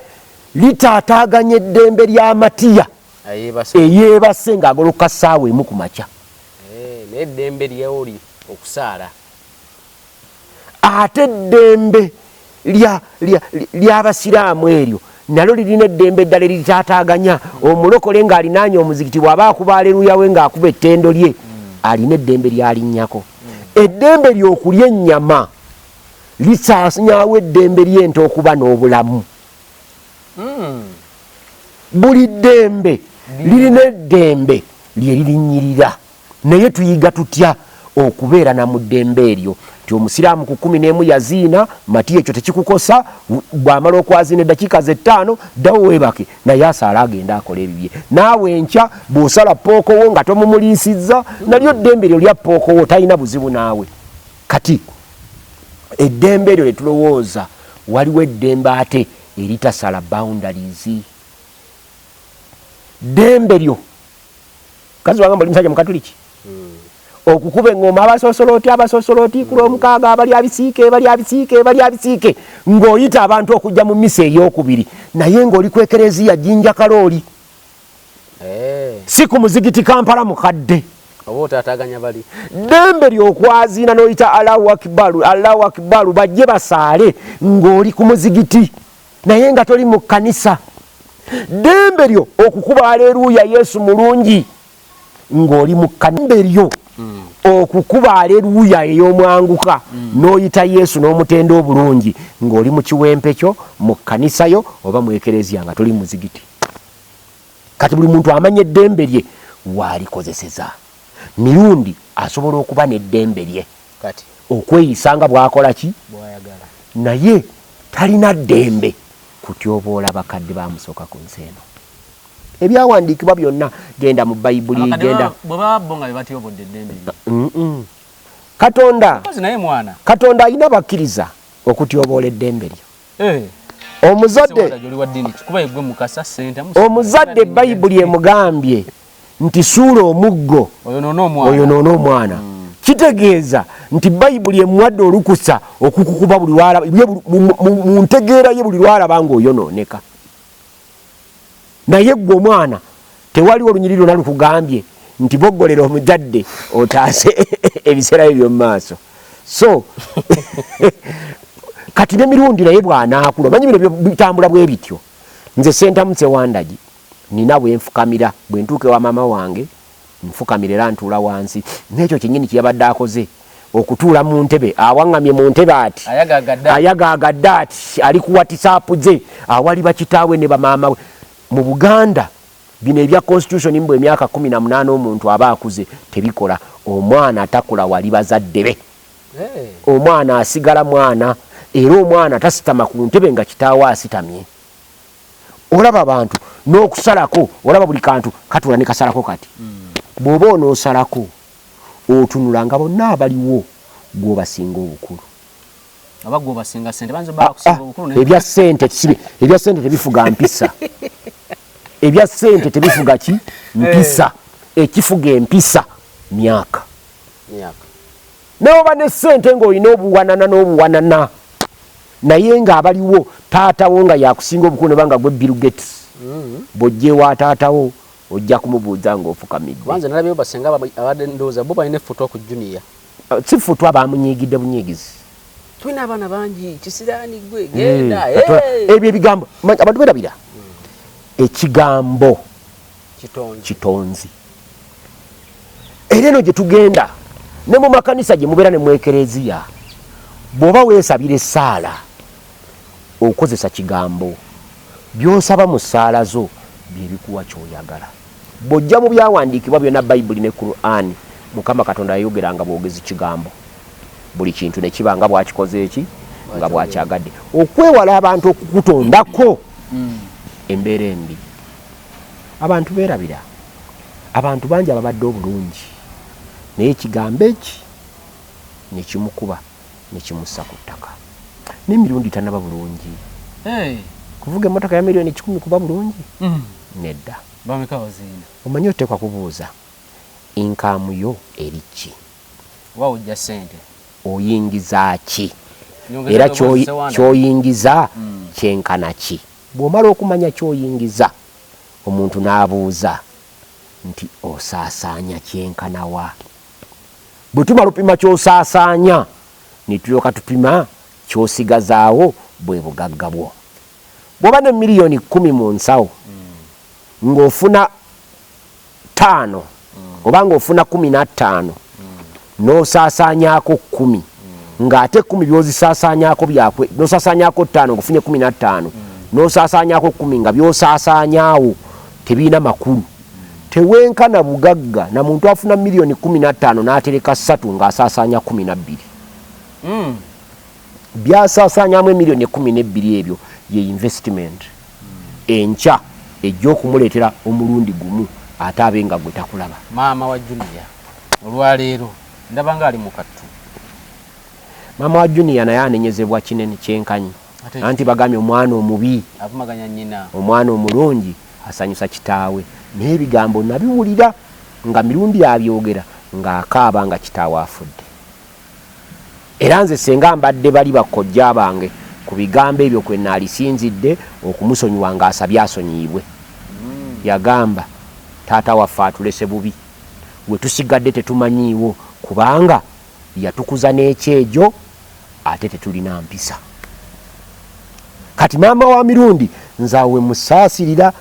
litaataaganya eddembe lya matiya eyeebase ng'agoloka saawa emu ku makya eh, naye eddembe lyewuli okusaala ate eddembe ly'abasiraamu eryo nalyo lirina eddembe eddala eritaataaganya omulokole ng'alinaanye omuzikiti bw'aba akuba aleruya we ng'akuba ettendo lye alina eddembe lyalinnyako eddembe ly'okulya ennyama lisaasanyawo eddembe ly'ente okuba n'obulamu hmm. buli ddembe lirina eddembe lye lirinnyirira Naye tuyiga tutya okubeera na mu ddembe eryo nti omusiraamu ku kumi n'emu yaziina mati ekyo tekikukosa bw'amala okwaziina eddakiika ze ttaano ddawo weebake naye asaala agenda akola ebibye naawe enkya bw'osala pookowo nga tomumuliisizza nalyo ddembe eryo lya pookowo talina buzibu naawe kati eddembe eryo lye tulowooza waliwo eddembe ate eritasala boundaries ddembe lyo kazi wanga mbali msaja mkatuliki mm. okukube ngoma abasosoloti abasosoloti mm. kulomukaga abali abisiike bali abisiike bali abisiike ngoyita abantu okujja mu misa eyokubiri naye ngoli kwekerezi ya jinja kaloli eh. siku muzigiti kampala mukadde dembe lyokwazina noyita allahu akibaru allahu akibaru bajje basaale ngoli ku muzigiti naye nga toli mu kkanisa ddembe lyo okukuba aleruuya yesu mulungi ng'oli mu ddembe lyo okukuba aleruuya ey'omwanguka n'oyita yesu n'omutenda obulungi ng'oli mu kiwempe kyo mu kkanisa yo oba mu ekereziya nga toli muzigiti kati buli muntu amanya eddembe lye waalikozeseza mirundi asobola okuba n'eddembe lye okweyisa nga bwakola ki naye talina ddembe kutyoboola bakadde bamusooka ku nsi eno ebyawandiikibwa byonna genda mu bayibuli genda katonda katonda alina bakkiriza okutyoboola eddembe lyo eh. omuzadde omuzadde bayibuli emugambye nti suula omuggo oyonoona omwana hmm. kitegeeza nti bayibuli emuwadde olukusa okukukuba buli mu ntegeera ye buli lwalaba ngaoyonooneka naye gwe omwana tewaliwo olunyiri lwona lukugambye nti bogolera omuzadde otaase ebiseera bye byomu maaso so kati nemirundi naye bwanaakula omanyi bino bitambula bwe bityo nze sentamuse wandagi Nnina bwe nfukamira. Bwe ntuuka ewa maama wange, nfukamira era ntuula wansi. N'ekyo kyennyini kye yabadde akoze, okutuula mu ntebe. Awaŋŋamye mu ntebe ati, ayagaagadde ati, ali ku watisaapu ze, awali bakitaawe ne bamaama we. Mu Buganda, bino ebya Konsityusoni mbu emyaka kkumi na munaana omuntu aba akuze, tebikola. Omwana takula wali bazadde be. Omwana asigala mwana, era omwana tasitama ku ntebe nga kitaawe asitamye. olaba abantu n'okusalako olaba buli kantu katula ne kasalako kati hmm. bw'oba onoosalako otunula nga bonna abaliwo gw'obasinga obukulu ah, ah, ebya sente kisibe ebya sente tebifuga mpisa ebya sente tebifuga ki mpisa eh. ekifuga empisa myaka newoba ne sente ngaolina obuwanana n'obuwanana naye nga abaliwo taatawo nga yakusinga obukulu nebanga gwe bill gates mm. bwojjewa taatawo ojja kumubuuza ngaofukamiddeabadendoozabobalinefutokujuniya uh, si futwa bamunyigidde bunyigizi tulina abaana bangi kisiraani gwe eh, genda eh. ebyo ebigambo abantu berabira hmm. ekigambo kitonzi era eno gye tugenda ne mu makanisa gye mubeera ne mu ekereziya bw'oba weesabira essaala okozesa kigambo by'osaba mu ssaala zo bye bikuwa ky'oyagala bw'ojja mu byawandiikibwa byonna bayibuli ne kurani mukama katonda yayogera nga bwogezi kigambo buli kintu ne kiba nga bwakikoze eki nga bwakyagadde okwewala abantu okukutondako mm. embeera embi Abantu berabira abantu bangi ababadde obulungi naye ekigambo eki nekimukuba nekimussa ku ttaka nemirundi tanaba bulungi hey. kuvuga emotoka ya miliyoni kikumi kuba bulungi mm. nedda omanyi oteekwa kubuuza inkaamu yo eri ki oyingiza ki era kyoyingiza mm. kyenkana ki Bw'omala okumanya ky'oyingiza, omuntu n'abuuza nti, Osaasaanya kyenkana wa? Bwe tumala opima ky'osaasaanya, ne tulyoka tupima ky'osigazaawo, bwe bugagga bwo. Bw'oba ne miliyoni kkumi mu nsawo, ng'ofuna. ttaano oba nga ofuna kumi nattaano nosaasaanyako kkumi ng'ate kkumi byozisaasaanyako byakwe nosaasaanyako ttaano ngaofunye kumi nattaano nosaasaanyako kkumi nga byosaasaanyaawo tebirina makulu tewenkana bugagga na muntu afuna miliyoni kumi nattaano n'atereka ssatu ng'asaasaanya kumi nabbiri hmm. byasaasaanyamu emiliyoni ekkumi n'ebbiri ebyo ye yinvesitimenti enkya ejja okumuleetera omulundi gumu ate abe nga gwe takulaba. Maama wa Junior olwaleero ndaba ng'ali mu kattu. Maama wa Junior naye anenyezebwa kinene kyenkanyi anti bagambye omwana omubi avumaganya nnyina, omwana omulungi asanyusa kitaawe naye ebigambo nabiwulira nga Mirundi abyogera ng'akaaba nga kitaawe afudde. Era nze senga mbadde bali bakkojja bange ku bigambo ebyo kwe naalisinzidde okumusonyiwa ng'asabye asonyiyibwe. Yagamba, Taata waffe atulese bubi, we tusigadde tetumanyiiwo kubanga yatukuza n'ekyejo ate tetulina mpisa. Kati maama wa Mirundi nze awo we musaasirira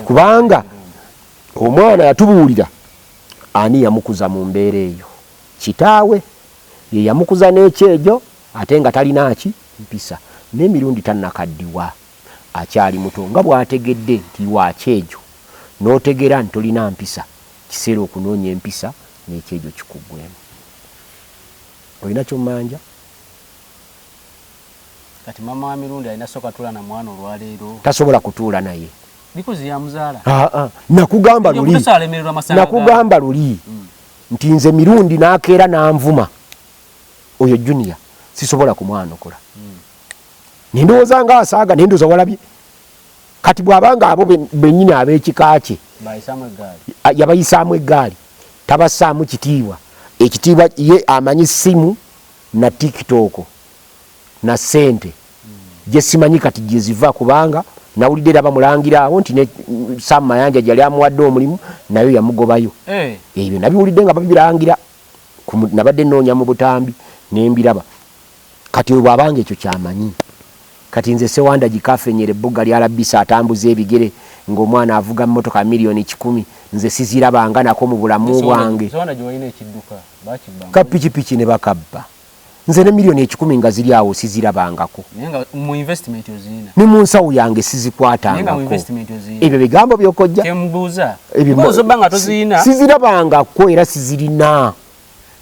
kubanga omwana yatubuulira ani yamukuza mu mbeera eyo. Kitaawe ye yamukuza n'ekyejo ate nga talina ki mpisa ne mirundi tanakaddiwa akyali muto nga bwategedde nti wa kyejo n'otegera nti tolina mpisa kiseera okunoonya empisa n'ekyejo kikuggwemu. Olina ky'ommanja? Kati maama wa Mirundi alina soka tula na mwana olwa leero? Tasobola kutuula naye. Because yamuzaala? Haa nakugamba luli. Nakugamba luli. nti nze mirundi nakeera nanvuma oyo junior sisobola kumwanukula hmm. nendowooza nga asaaga nendoza walabye kati bwabanga abo benyini abekika kye yabayisaamu eggaali tabassaamu kitiibwa ekitiibwa ye amanyi simu na tiktok na sente jesimanyi kati jeziva kubanga nawulidde era bamulangira awo nti ne Sam Mayanja jali amuwadde omulimu nayo yamugobayo eh. ebyo nabiwulidde nga babirangira nabadde noonya mu butambi nembiraba kati oyo bwabanga ekyo kyamanyi kati nze sewanda gikafenyera ebbugga lya labisa atambuza ebigere ng'omwana avuga mmotoka miliyoni kikumi nze sizirabanga nako mu bulamu bwange ka pikipiki ne bakabba nze ne million ekikumi nga ziri awo sizirabangako ne mu nsawo yange sizikwatangako ebyo bigambo byokojja sizirabangako era sizirina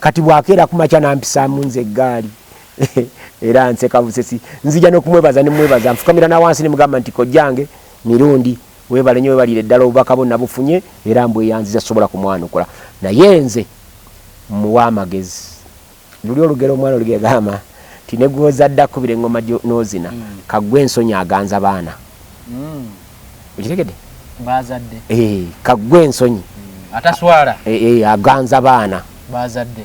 kati bwakeera kumakya nampisaamu nze eggaali era nseka busesi nzija nokumwebaza nemwebaza nfukamira nawansi nemugamba nti kojjange mirundi webale nyo webalire ddala obubaka bo nabufunye era mbweyanziza sobola kumwanukula naye nze muwa amagezi Luli olugero omwana olugegama nti negwozadde akubira engoma nozina mm. kagwe ensonyi aganza baana mm. okitegede bazadde eh, kagwe ensonyi mm. ataswala eh, eh, aganza baana bazadde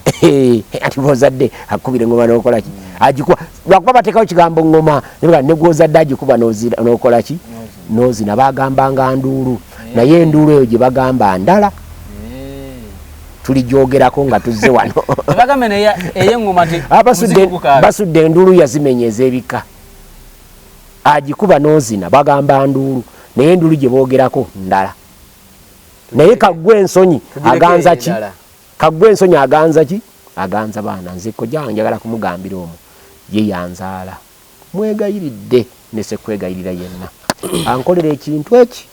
ati bozadde akubira engoma nokolaki mm. ajikuwa lwakuba batekawo kigambo ngoma negwoza daji kuba nokolaki nozina bagamba nga nduulu eh. naye enduulu eyo gyebagamba ndala eh. tulijogerako nga tuzze wano ah, basudde enduulu yazimenya ezebika agikuba nozina bagamba nduulu naye enduulu gyebogerako ndala naye kagwe ensonyi aganza ki Kaggwe ensonyi aganza ki? Aganza baana. Nze kojja wange njagala kumugambira omu ye yanzaala. Mwegayiridde ne sekwegayirira yenna ankolera ekintu eki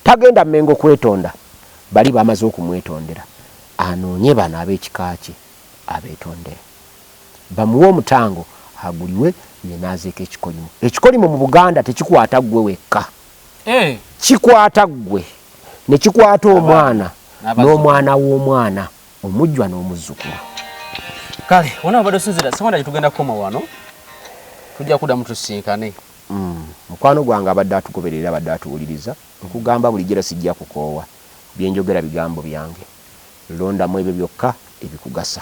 tagenda Mmengo kwetonda. Bali bamaze okumwetondera anoonye bano ab'ekika kye abeetondere. Bamuwe omutango aguliwe ye n'azeeko ekikolimo. Ekikolimo mu Buganda tekikwata ggwe wekka. eh. kikwata ggwe ne kikwata omwana n'omwana w'omwana omujjwa n'omuzzukulu kale wona obadde osinzira sewanda gye tugenda kukoma wano tujja kuddamu tusinkane mm. mukwano gwange abadde atugoberera abadde atuwuliriza nkugamba bulijjo era sijja kukoowa byenjogera bigambo byange londamu ebyo byokka ebikugasa